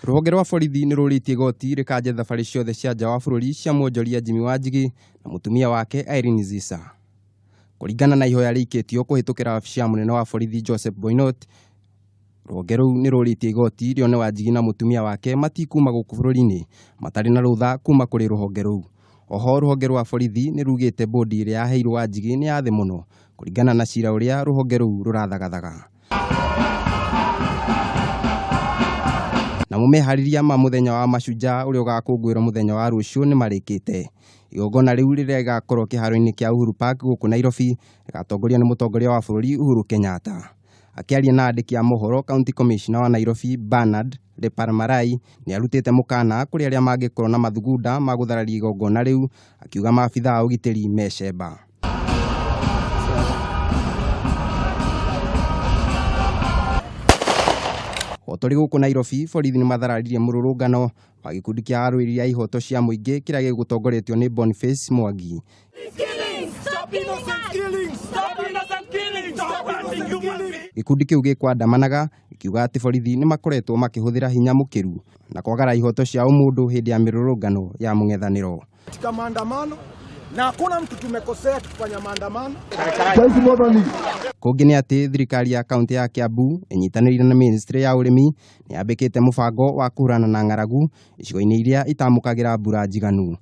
Rũhonge rwa borithi nĩ rũrĩtie igoti rĩkanje thabarĩ ciothe cia nja wa bũrũri cia mwonjoria Jimmy Wanjigi na mũtumia wake Irene Zisa. Kũringana na ihoya rĩikĩtio kũhĩtũkĩra wabici ya mũnene wa borithi Joseph Boinot, rũhonge rũu nĩ rũrĩtie igoti rĩone Wanjigi na mũtumia wake matikuma gũkũ bũrũri-inĩ matarĩ na rũtha kuma kũrĩ rũhonge rũu. Oho rũhonge rwa borithi nĩ rugĩte bondi ĩrĩa yaheirwo Wanjigi nĩ ya thĩ mũno kũringana na cira ũrĩa rũhonge rũu rũrathagathaga. namo meharĩria ma mũthenya wa mashujaa ũrĩa ũgakũngũĩrwo mũthenya wa rũciũ nĩ marĩkĩte igongona rĩu rĩrĩa rĩgakorwo kĩharo-inĩ kĩa Uhuru Park gũkũ Nairobi rĩgatongorio nĩ mũtongoria wa bũrũri Uhuru Kenyatta akĩaria na andĩki a mohoro county commissioner wa Nairobi Bernard Deparmarai nĩarutĩte mũkana kũrĩ arĩa mangĩkorwo na mathugunda ma gũthararia igongona rĩu, akiuga maabitha a ũgitĩri me cemba. O tũrĩ gũkũ Nairobi, borithi nĩmathararirie mũrũrũngano wa gĩkundi kĩa arũĩrĩri a ihoto cia mũingĩ kĩrĩa gĩgũtongoretio nĩ Boniface Mwangi. Gĩkundi kĩu gĩkwandamanaga ĩkiuga atĩ borithi nĩ makoretwo makĩhũthĩra hinya mũkĩru na kwagara ihoto cia ũmũndũ hĩndĩ ya mĩrũrũngano ya mũng'ethanĩro. katika maandamano na hakuna mtu tumekosea tukifanya maandamano. Kũngĩ nĩ atĩ thirikari ya kaunti ya Kiambu ĩnyitanĩire na ministry ya ũrĩmi nĩ yambĩkĩte mũbango wa kũhũrana na ng'aragu icigo-inĩ iria itamũkagĩra mbura njiganu.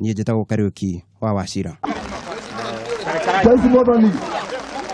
niĩ njĩtagwo Kariuki wa Wachira. Thank you, Motoni.